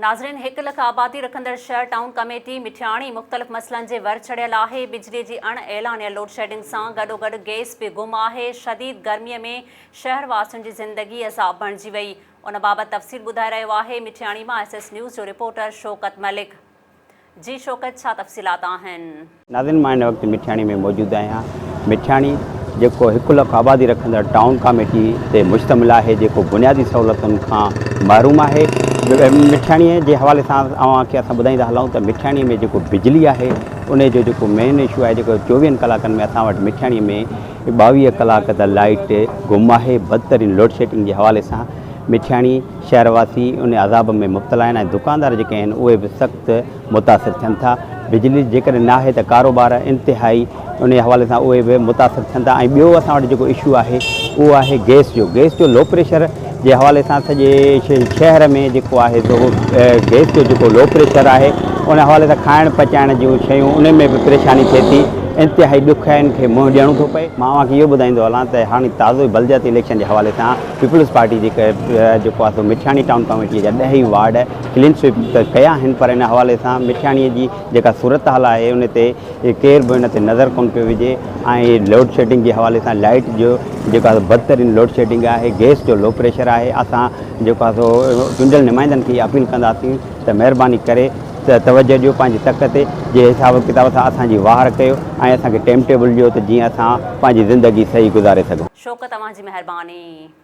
ناظرين هڪ لک آبادي رکندڙ شهر ٽائون ڪميٽي مٺياڻي مختلف مسئلن جي ور چڙهيل آهي، بجلي جي اڻ اعلانيل لوڊشيڊنگ سان گڏوگڏ گئس به گم آهي، شديد گرمي ۾ شهر واسين جي زندگي عذاب بڻجي وئي، ان بابت تفصيل ٻڌائي رهيو آهي مٺياڻي مان ايس ايس نيوز جو رپورٽر شوڪت ملڪ. جي شوڪت ڇا تفصيلات آهن. ناظرين مان هن وقت مٺياڻي ۾ موجود آهيان مٺياڻي جيڪو هڪ لک آبادي رکندڙ ٽائون ڪاميٽي تي مشتمل آهي جيڪو بنيادي سهولتن کان محروم آهي مٺياڻي جي حوالي سان اوهان کي اسان ٻڌائيندا هلائون ته مٺياڻي ۾ جيڪو بجلي آهي انهي جو جيڪو مين اشو آهي جيڪو چوويهن ڪلاڪن ۾ اسان وٽ مٺياڻي ۾ ٻاويهه ڪلاڪ ته لائيٽ گم آهي بدترين لوڊشيڊنگ جي حوالي سان مٺياڻي شهر واسي ان عذاب ۾ مبتلا آهن ۽ دڪاندار جيڪي آهن اهي به سخت متاثر ٿين ٿا. بجلي جيڪڏهن نه آهي ته ڪاروبار انتهائي انهي حوالي سان اهي به متاثر ٿين ٿا ۽ ٻيو اسان وٽ جيڪو اشو آهي اهو آهي گئس جو گئس جو لو پريشر جي حوالي سان سڄي شهر ۾ جيڪو آهي سو گئس جو جيڪو لو پريشر آهي ان حوالي سان کائڻ پچائڻ جون شيون انهن ۾ به پريشاني ٿئي ٿي انتهائي ڏکيائين کي منهن ڏيڻو ٿو پئي. مان اوهان کي اهو ٻڌائيندو هلان ته هاڻي تازو ئي بلدياتي اليڪشن جي حوالي سان پيپلز پارٽي جي جيڪو آهي سو مٺياڻي ٽائون ڪاميٽيء جا ڏهه ئي وارڊ ڪلين سوئپ ته ڪيا آهن پر ان حوالي سان مٺياڻيء جي جيڪا صورتحال آهي ان تي ڪير به ان تي نظر ڪونه پيو وجهي ۽ لوڊ شيڊنگ جي حوالي سان لائيٽ جو جيڪو آهي بدترين لوڊ شيڊنگ آهي گئس جو لو پريشر آهي اسان جيڪو آهي سو چونڊيل نمائندن کي اها اپيل ڪنداسين ته مهرباني ڪري ته توجه ڏيو پنهنجي تڪ تي جي حساب ڪتاب سان اسان جي واهر ڪيو ۽ اسان کي ٽيم ٽيبل ڏيو ته جيئن اسان پنهنجي زندگي صحيح گذاري سگهون. شوق توهان جي مهرباني.